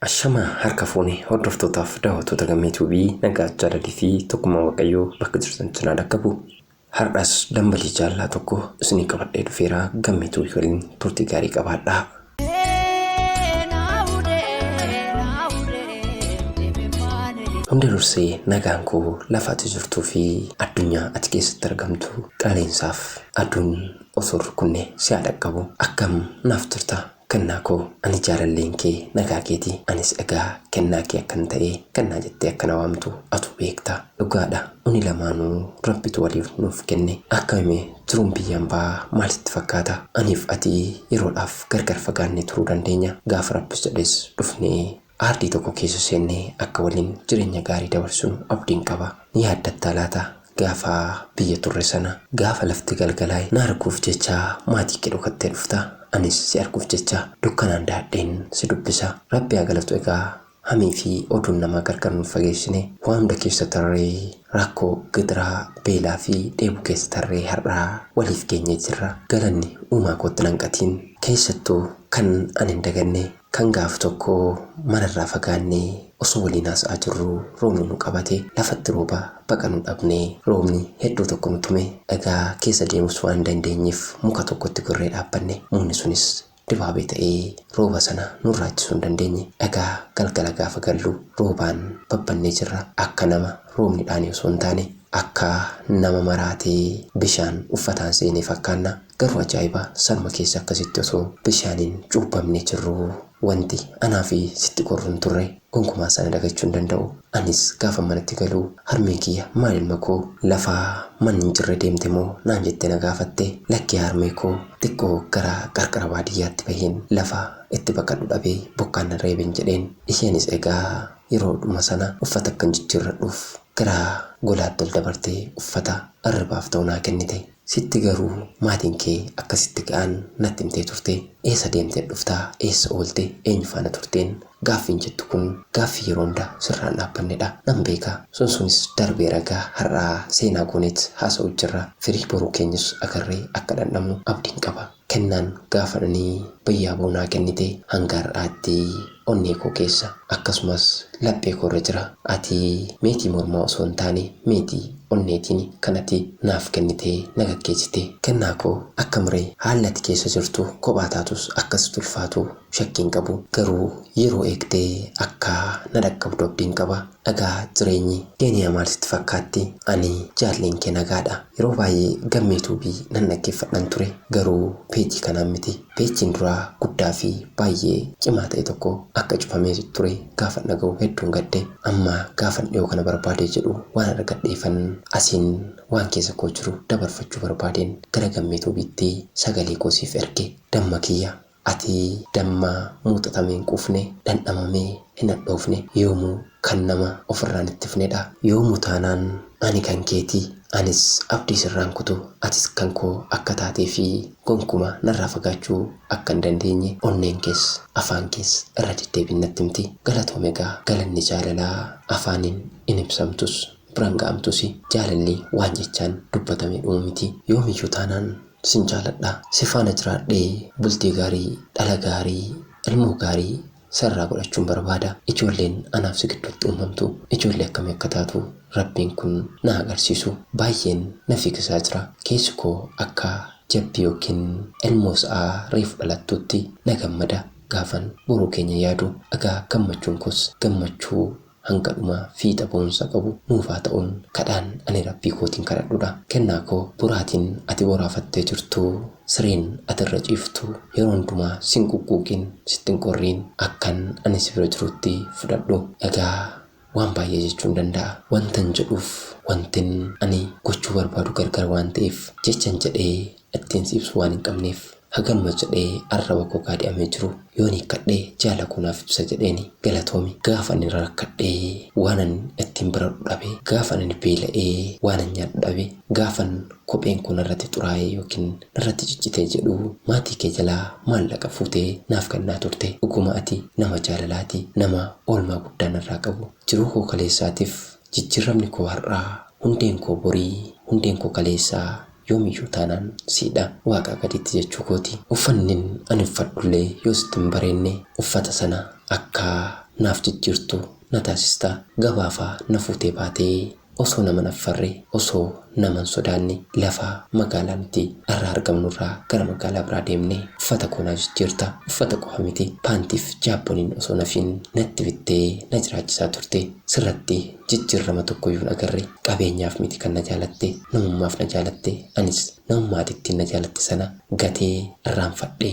Ashama harka fuune hordoftootaaf daawwattoota gammee tuubii nagaa jaalalii fi tokkummaa waaqayyoo bakka jirtan cinaa dhaqqabu. Har'as dambalii jaallaa tokko isinii qabadhee dhufeera gammee tuubii waliin turtii gaarii qabaadhaa. Hunda dursee nagaan koo lafa ati jirtuu fi addunyaa ati keessatti argamtu qilleensaaf aduun osoo rukunne si haa dhaqqabu akkam naaf jirta Kennaa koo ani jaalalleen kee nagaa keeti anis egaa kennaa kee akkan ta'e kennaa jettee akka na waamtu atu beekta dhugaadha uni lamaanuu rabbitu waliif nuuf kenne akkami mee jiruun biyya ambaa maal sitti fakkaata aniif ati yeroodhaaf gargar fagaannee turuu dandeenya gaafa rabbis jedhes dhufnee Aardii tokko keessa seennee akka waliin jireenya gaarii dabarsinu abdiin qaba. Ni yaaddattaa laata gaafa biyya turre sana? Gaafa lafti galgalaa'e na arguuf jecha maatii kee dhokattee dhufta. Anis si arguuf jecha dukkanaan dahadheen si dubbisa. Rabbi haa galatu egaa hamii fi oduun namaa gargar nun fageessine. Waa hunda keessa tarree rakkoo, gidiraa, beelaa fi dheebuu keessa tarree har'a waliif geenyee jirra. Galanni uumaa kootti nan qatiin. Keessattuu kan ani hin daganne Kan gaaf tokko manarraa fagaannee osoo waliin haasa'aa jirruu roobni nu qabate. Lafatti rooba baqannu dhabne. Roobni hedduu tokko nu tume. Dhagaa keessa deemus waan hin dandeenyeef muka tokkotti gorree dhaabbanne. Mukni sunis dibaabee ta'ee rooba sana nurraa ittisuu hin dandeenye. Egaa galgala gaafa gallu roobaan babbannee jirra. Akka nama roobni dhaane osoo hin taane akka nama maraatee bishaan uffataan seenee fakkaanna. Garuu ajaa'iba sanuma keessa akkasitti osoo bishaaniin cuubbamnee jirruu wanti anaa fi sitti gorru hin turre. Gonkumaa sana dagachuu hin danda'u. Anis gaafan manatti galu harmeen kiyya maal ilma koo lafa manni hin jirre deemte moo naan jettee na gaafatte. Lakki yaa harmee koo xiqqoo gara qarqara baadiyyaatti baheen lafa itti baqadhu dhabee bokkaan na reeben jedheen. Isheenis egaa yeroodhuma sana uffata akkan jijjiirradhuuf Gara golaatti ol dabartee uffata irribaaf ta'u naa kennite. Sitti garuu maatiin kee akka sitti ga'an natti himtee turte. Eessa deemteet dhufta? Eessa oolte? Eenyu faana turteen? Gaaffiin jettu kun gaaffii yeroo hunda sirraan dhaabbannedha. Nan beeka. Sun sunis darbeera egaa har'aa seenaa gooneet haasa'uut jirra. Firii boruu keenyus agarree akka dhandhamnu abdiin qaba. Kennaan gaafa ani bayyaa boo naa kennite hanga har'aatti onnee koo keessa akkasumas laphee koo irra jira. Ati meetii mormaa osoo hin taane meetii onneetiin kan ati naaf kennite na gaggeessite. Kennaa koo akkam ree? Haalli ati keessa jirtu kophaa taatus akka sitti ulfaatu shakkii hin qabu garuu yeroo eegdee akka na dhaqqabdu abdiin qaba dhagaa jireenyi keeniyaa maal sitti fakkaatti ani jaalleen kee nagaadha yeroo baay'ee gammee tuubii nan dhaggeeffadhan ture garuu peejii kanaan miti peejiin duraa guddaa fi baay'ee cimaa ta'e tokko akka cufamee ture gaafan dhaga'u hedduun gadde amma gaafan dhiyoo kana barbaadee jedhu waan argadheefan asiin waan keessa koo jiru dabarfachuu barbaadeen gara gammee tuubiitti sagalee koo siif erge damma kiyya Ati dammaa muuxatamee hin quufne, dhandhamamee hin hadhoofne, yoomuu kan nama ofirraa hin ittifne dha. Yoomuu taanaan ani kan keeti, anis abdii sirraa hin kutu, atis kan koo akka taatee fi gonkuma narraa fagaachuu akka hin dandeenye onneen kees afaan kees irra deddeebiin natti himti. Galatoomi egaa galanni jaalalaa afaaniin hin ibsamtus, biran ga'amtusi. Jaalalli waan jechaan dubbatamee dhumu miti. Yoomiyyuu taanaan Sin jaaladha si faana jiraadhee bultii gaarii dhala gaarii ilmoo gaarii si irraa godhachuun barbaada ijoolleen anaaf si gidduutti uumamtu ijoollee akkamii akka taatu rabbiin kun na agarsiisu baayyeen na fiigisaa jira keessi koo akka jabbii yookiin ilmoo sa'a reefu dhalattuutti na gammada gaafan boruu keenya yaadu egaa gammachuun koos gammachuu hanga dhumaa fiixa boonsa qabu nuuf haa ta'uun kadhaan ani Rabbii kootiin kadhadhudha. Kennaa koo boraatiin ati boraafattee jirtu, sireen ati irra ciiftu yeroo hundumaa sin quqquuqiin, sitti hin qorriin akkan ani si bira jirutti fudhadhu. Egaa waan baay'ee jechuun danda'a. Wantan jedhuuf wantin ani gochuu barbaadu gargar waan ta'eef jechan jedhee ittiin si ibsu waan hin qabneef haganuma jedhee arraba koo gaadi'amee jiru yoon hiikkadhe jaala koo naaf ibsa jedheeni galatoomi gaafa ani rarakkadhe waanan ittiin baradhu dhabe gaafan ani beela'e waanan nyaadhu dhabe gaafan kopheen koo narratti xuraa'e yookiin narratti ciccite jedhu maatii kee jalaa maallaqa fuutee naaf kennaa turte dhuguma ati nama jaalalaati nama oolmaa guddaa narraa qabu jiruu koo kaleessaatiif Jijjiirramni koo har'aa, hundeen koo borii, hundeen koo kaleessaa yoomiyyuu taanaan siidha. Waaqaa gaditti jechuu kooti. Uffannin ani uffadhullee yoo sitti hin bareenne, uffata sana akka naaf jijjiirtu na taasista. Gabaafaa na fuutee baatee osoo nama hin affarre, osoo nama hin sodaanne lafa magaalaa nuti arra argamnu irraa gara magaalaa biraa deemne uffata koo naa jijjiirta uffata qofa miti paantiif jaabboniin osoo hin hafiin natti bittee na jiraachisaa turte sirratti jijjiirrama tokkoyyuu hin agarre qabeenyaaf miti kan na jaalatte namummaaf na jaalatte anis namummaa ati ittiin na jaalatte sana gatee irraanfadhe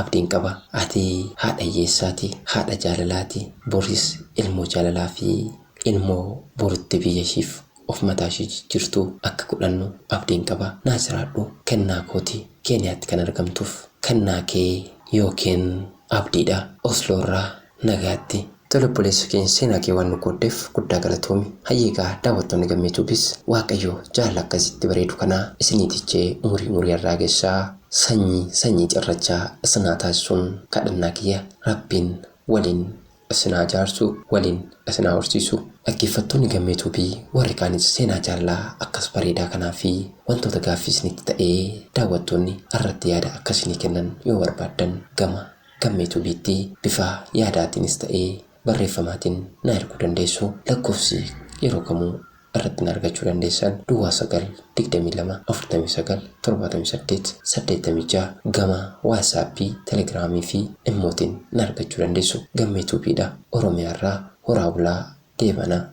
Abdiin qaba ati haadha hiyyeessaati, haadha jaalalaati, boris ilmoo jaalalaa fi ilmoo borutti biyya ishiif of mataa ishii jijjiirtu akka godhannu abdiin qaba. Naa jiraadhu kennaa kooti. Keeniyaatti kan argamtuuf kennaa kee ykn abdiidha. Osloo irraa Nagaatti. Tole obboleessa keenya seenaa kee waan nu qooddeef guddaa galatoomi. Hayyee egaa daawwattoonni Gammee Tuubis Waaqayyo jaalala akkasitti bareedu kana isinii tichee umurii umurii irraa gessaa sanyii sanyii cirrachaa isin haa taasisuun kadhannaa kiyya Rabbiin waliin isin haa jaarsu waliin isin haa horsiisu. Dhaggeeffattoonni Gammee Tuubii warri kaanis seenaa jaalalaa akkas bareedaa kanaa fi wantoota gaaffii isinitti ta'ee daawwattoonni irratti yaada akka isinii kennan yoo barbaaddan gama Kan Meetuubiitti bifa yaadaatiinis ta'ee barreeffamaatiin na erguu dandeessu. Lakkoofsi yeroo kamuu irratti na argachuu dandeessan Duwwaa 9 22 49 78 86 gama Waatsaappii, Telegiraamii fi Immootiin na argachuu dandeessu. Gammeetuubiidha. Oromiyaarraa horaa bulaa deebana.